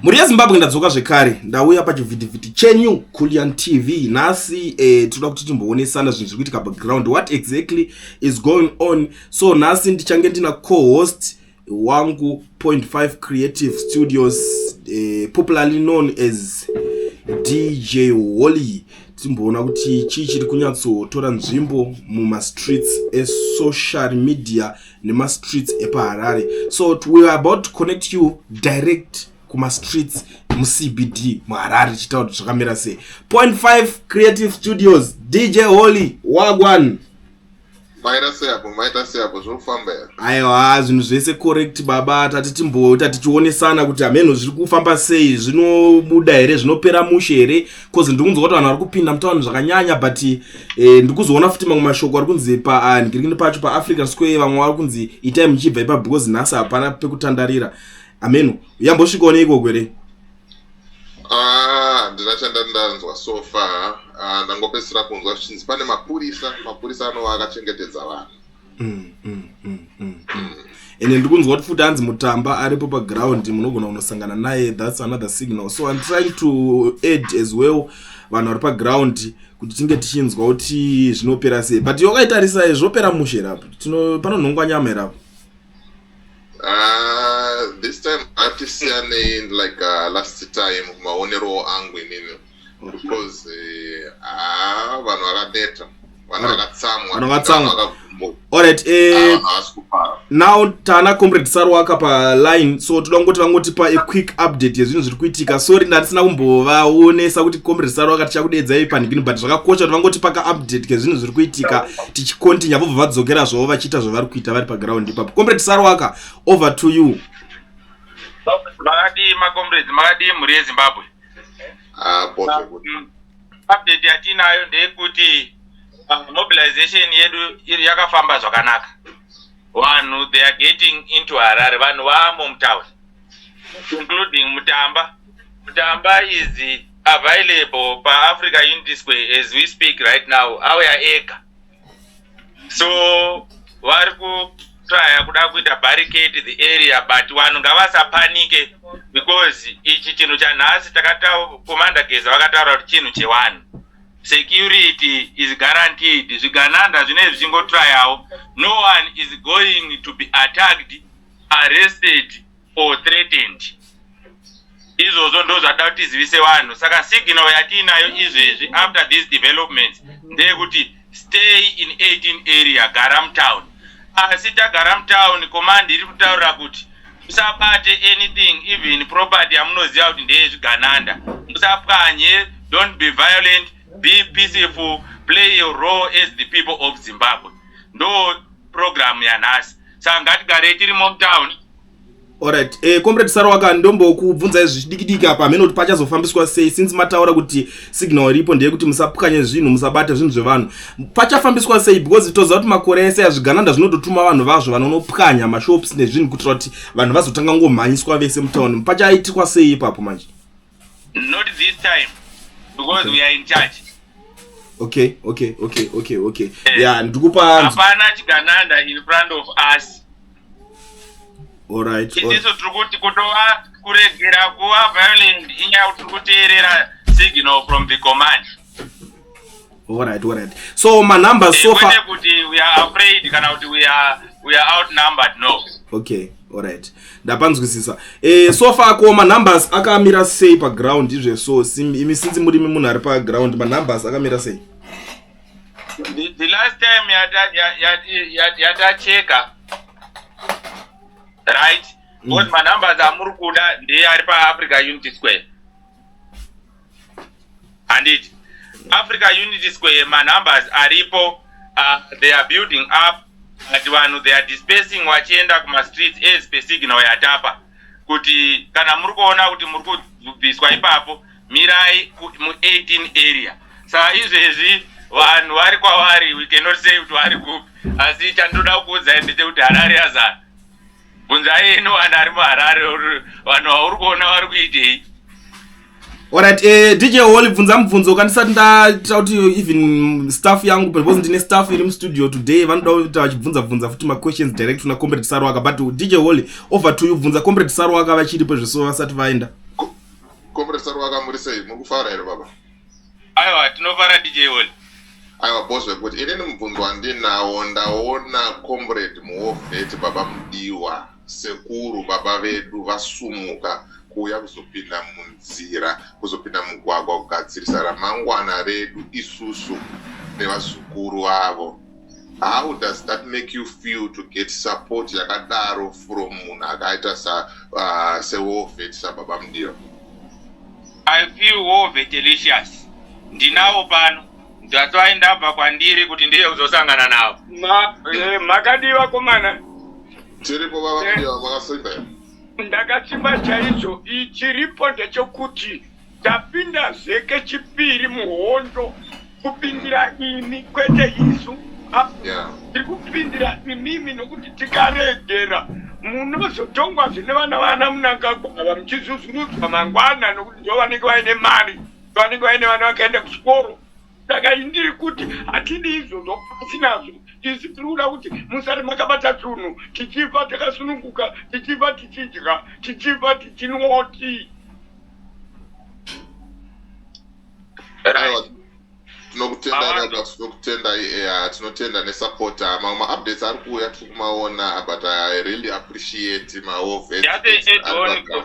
mhuri yezimbabwe ndadzoka zvekare ndauya pachivhitivhiti chenyu kulian tv nhasi eh, tinoda kuti timboonesana zvinhu zviri kuitika background what exactly is going on so nhasi ndichange ndina cohost wangu 5 creative studios eh, popularly known as dj holy timboona kuti chii chiri kunyatsotora nzvimbo mumastreets esocial media nemastreets epaharare so we are about to connect you direct kumastreets mucbd muharare tichitaura kuti zvakamira sei point five creative studios dj holy wagwan maita seapo maita seapo zvinofamba here aiwa zvinhu zvese correct baba tati timboita tichionesana kuti hameno zviri kufamba sei zvinobuda here zvinopera mushe here bcoz ndikunzwa kuti vanhu vari kupinda mutauni zvakanyanya but eh, ndikuzoona futi mamwe mashoko ari kunzi panhikirikini ah, pacho paafrican square vamwe vari kunzi itai muchibva ipa because nhasi hapana pekutandarira ameno yambosvikawo neikoko here ah, handina chandandanzwa so far ah, ndangopedzisira kunzwa zvichinzi pane mapurisa mapurisa anova akachengetedza vanhu mm, mm, mm, mm, mm. ende ndiri kunzwa kuti futi hanzi mutamba aripo paground munogona kunosangana naye thats another signal so im trying to add as well vanhu vari paground kuti tinge tichinzwa kuti zvinopera sei but yokaitarisai zvopera mushe here apo panonhongwa nyama here apo ah, this time hatisiyanei like uh, last time maoneroo angu inini because ah vanhu vakaneta vanhu vakatsamwa vanhu vakatsamwa alright eh ah, now tana comrade saru waka pa line so toda kungoti vangotipa a quick update yezvinhu zviri kuitika sorry ndandisina kumbovaonesa kuti comrade saru waka tichakudeedzai panhingini but zvakakosha kuti vangoti paka update kezvinhu zviri kuitika tichicontinue vobva vadzokera zvavo vachiita zvavari kuita vari paground ipapo comrade saru waka over to you makadii macomrades makadii mhuri yezimbabwe apo ah, zvekuti um, update yatinayo ndeyekuti ah, mobilization yedu yakafamba zvakanaka vanhu they are getting into harare vanhu vamo mutown including mutamba mutamba is available paafrica unity square as we speak right now auya ega so vari kutraya kuda kuita barricade the area but vanhu ngavasapanike because ichi chinhu chanhasi takatakomanda geza vakataura kuti chinhu chevanhu security is guaranteed zvigananda zvinei zvichingotrayawo no one is going to be attacked arrested or threatened izvozvo ndozvada kuti tizivise vanhu saka signal yatiinayo izvezvi after these developments ndeyekuti stay in 18 area gara mutown asi tagara mutown command iri kutaurira kuti musabate anything even property yamunoziva kuti ndeyezvigananda musapwanye don't be violent be peaceful play your role as the people of zimbabwe ndo programu yanhasi saka ngatigarei tirimo mutown Alright, eh, comrade Sarwaka ndombokubvunzai zvichidikidiki apa hameno kuti pachazofambiswa sei since mataura kuti signal iripo ndeyekuti musapukanye zvinhu musabate zvinhu zvevanhu pachafambiswa sei because toziva kuti makore ese azvigananda zvinototuma vanhu vazvo vanonopwanya mashops nezvinhu kuitira kuti vanhu vazotanga ngomhanyiswa vese mutown pachaitikwa sei ipapo manje Not this time because okay. we are in charge. Okay, okay, okay, okay, okay. Eh, yeah, ndikupa hapana chigananda in front of us. All right. Itiso tiri kuti kutova kuregera kuva violent inyaya tiri kuteerera signal from the command. Alright, alright. So my number so far. We are afraid kana kuti we are we are outnumbered no. Okay, alright. Ndapanzwisisa. Eh so far ko ma numbers akamira sei pa ground izve so imi since muri munhu ari pa ground ma numbers akamira sei? The, the last time yata yata yata cheka right? Mm. What my numbers amuri kuda ndiye ari pa Africa Unity Square. handiti africa unity square manumbers aripo uh, they are building up but vanhu they are dispersing vachienda kumastreets as per signal yatapa kuti kana muri kuona kuti muri kubviswa ipapo mirai mu 18 area saa izvezvi vanhu vari kwavari we cannot say kuti vari kupi asi chandoda kukuudzai ndechekuti harare yazana bvunzai henyu vanhu ari muharare vanhu vauri kuona vari kuitei orit eh, dj holy bvunza mubvunzo kandisati ndaita kuti even staff yangu because ndine staff iri mustudio today vanoda kuita vachibvunza bvunza futi maquestions direct kuna comrade sarwaka but dj holy over to you bvunza comrade sarwaka vachiripo zveso vasati vaenda comrade sarwaka muri sei muri kufara here baba aiwa tinofara dj oli aiwa boss vekuti inini mubvunzo wandinawo ndaona comrade muovheti baba mudiwa sekuru baba vedu vasumuka kuuya kuzopinda munzira kuzopinda mugwagwa kugadzirisa ramangwana redu isusu nevazukuru vavo how does that make you feel to get support yakadaro from munhu akaita uh, sewovet sababa mudiro i feel wovet delicious ndinawo pano ndatoai ndabva kwandiri kuti ndiye kuzosangana navo eh, makadii vakomana tiripo baba mudiro makasimba ndakasimba chaizvo chiripo ndechokuti Tapindazve kechipiri muhondo kupindira imi kwete isu tiri kupindira imimi nokuti tikaregera munozotongwazve nevana vana munangagwava muchizuzurudzwa mangwana nokuti ndovanenge vaine mari ndovanenge vaine vana vakaenda kuchikoro saka ndiri kuti hatidi izvozvo pasi nazvo isu tiri kuda kuti musati makabata tunhu tichifa takasununguka tichifa tichidya tichifa tichinwa tii tinokutendai eya tinotenda nesapota mamwe maupdates ari kuuya tiri kumaona but i really appreciate maoveedon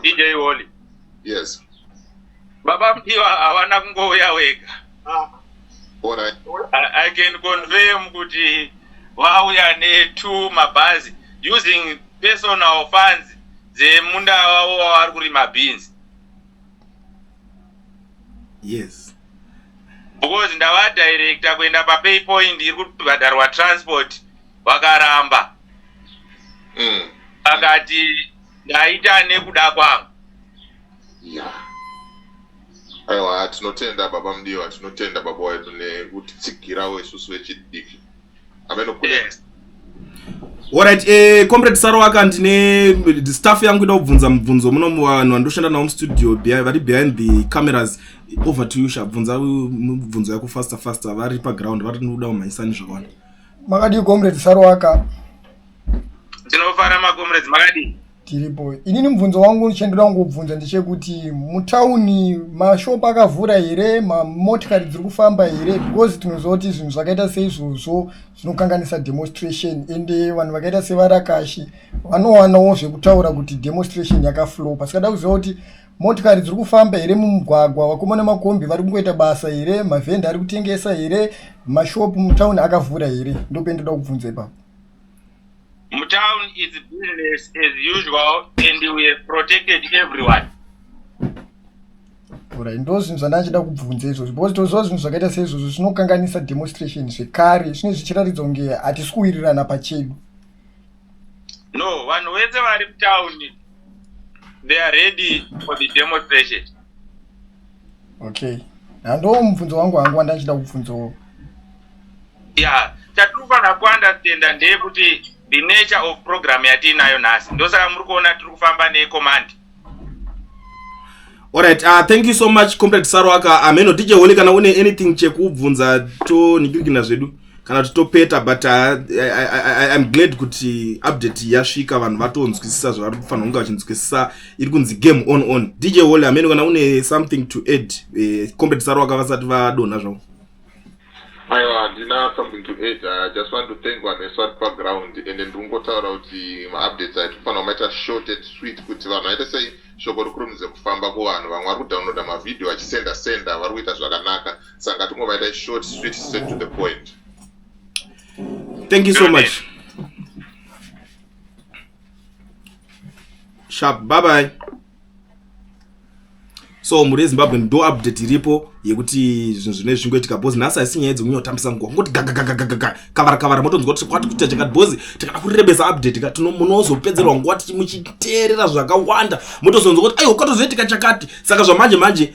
dj woli yes Baba Mudiwa havana kungouya wega. Ah. Alright. I, I can confirm kuti vauya ne two mabhazi using personal funds dzemunda wavo wavari kurima beans. Yes. Because ndava director kuenda pa pay point iri kubhadharwa transport vakaramba. Mm. Akati ndaita nekuda kwangu. Yeah. Aiwa tinotenda baba Mudiwa, tinotenda baba wedu nekutitsigirawo isusu vechidiki. Ameno kune yeah. Alright, eh, comrade Saroaka ndine staff yangu ida kubvunza mubvunzo muno muvanhu vandoshanda navo mustudio vari behind the cameras over to you shabvunza mubvunzo yako faster faster vari paground vari nokuda kumhanyisani zvakawanda makadii comrade Saroaka ndinofara macomrades makadii tiripo inini mubvunzo wangu chendoda kungobvunza ndechekuti mutauni mashop akavhura here mamotikari dziri kufamba here because tinoziva kuti zvinhu zvakaita seizvozvo zvinokanganisa demonstration ende vanhu vakaita sevarakashi vanowanawo zvekutaura kuti demonstration yakaflopa sikada kuziva kuti motikari dziri kufamba here mumugwagwa vakoma nemakombi vari kungoita basa here mavhenda ari kutengesa here mashop mutauni akavhura here ndopendoda kubvunza ipapo Mutown is business as usual and we have protected everyone. Alright, ndo zvinhu zvandachida kubvunza izvozvo because toziva zvinhu zvakaita seizvozvo zvinokanganisa demonstration zvekare zvine zvichiratidza kunge hatisi kuwirirana pachedu. No, vanhu vese vari mutown they are ready for the demonstration. Okay, handoo mubvunzo wangu wangu wandachida kubvunzawo. ya chatiri kufanira kuunderstanda ndeyekuti the nature of program yatiinayo nhasi ndosaka muri kuona tiri kufamba necommand Alright, uh, thank you so much Comrade Sarwaka. Ameno DJ Holy kana une anything chekubvunza to nikirikina zvedu kana kuti topeta but uh, I, I, I, I'm glad kuti update yasvika vanhu vatonzwisisa zvavari kufanira kunge vachinzwisisa iri kunzi game on on. DJ Holy ameno kana une something to add eh, Comrade Sarwaka vasati vadonha zvavo. aiwa handina something to add i just want to thank vanhu vese vari paground ende ndiri kungotaura kuti maupdates aiti kufanira kumaita short and sweet kuti vanhu vaite sei shoko rikurumidze kufamba kuvanhu vamwe vari kudownloada mavhidhio vachisenda senda vari kuita zvakanaka saka ngatingovaita short sweet set to the point thank you so much sharp bye bye so mhuri yezimbabwe ndo update iripo yekuti zvinhu zvine zvingoitika bhozi nhasi haisi nyaya dzekunya kutambisa nguva kungoti gagagagagaga kavara kavara motonzwa kuti kwati kuita chakati bhozi tikada kurebesa update ka munozopedzerwa nguva tichimuchiteerera zvakawanda motozonzwa kuti aiwa kwatozoitika chakati saka zvamanje manje